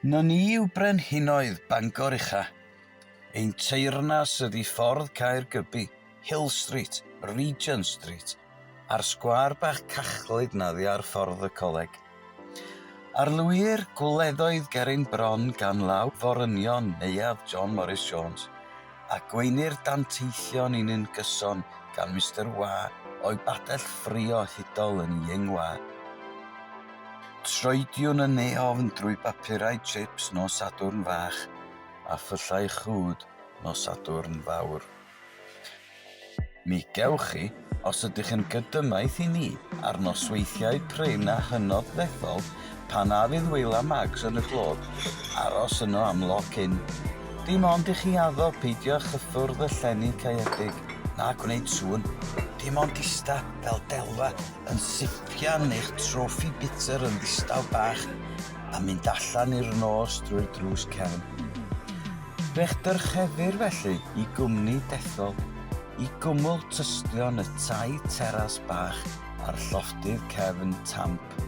Na ni yw brenhinoedd Bangor ucha. Ein teyrnas ydi Ffordd Caergybi, Hill Street, Regent Street, a'r sgwâr bach cachlyd na ddi ar Ffordd y Coleg. Arlwyir gwleddoedd ger ein bron gan law forynion Neuadd John Morris Jones, a gweinir danteithion i ni'n gyson gan Mister Wâ o'i badell ffrio hudol yn Ying Wâ. Troediwn yn ei ofn drwy bapurau chips nos Sadwrn Fach a phyllau chwd nos Sadwrn Fawr. Mi gewch chi, os ydych yn gydymaith i ni, ar nosweithiau prin a hynod ddethol, pan a fydd Wil a Mags yn y glod, aros yno am loc in. Dim ond i chi addo peidio â chyffwrdd y llenni caeedig, na gwneud sŵn, dim ond ista fel delfa. yn sipian eich trofi butur yn ddistaw bach a mynd allan i'r nos drwy'r drws cefn. Fe'ch dyrchefir felly i gwmni dethol i gwmwl tystion y tai teras bach a'r llofftydd cefn tamp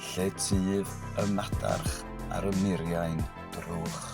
lle tyf y madarch ar y muriau'n drwch.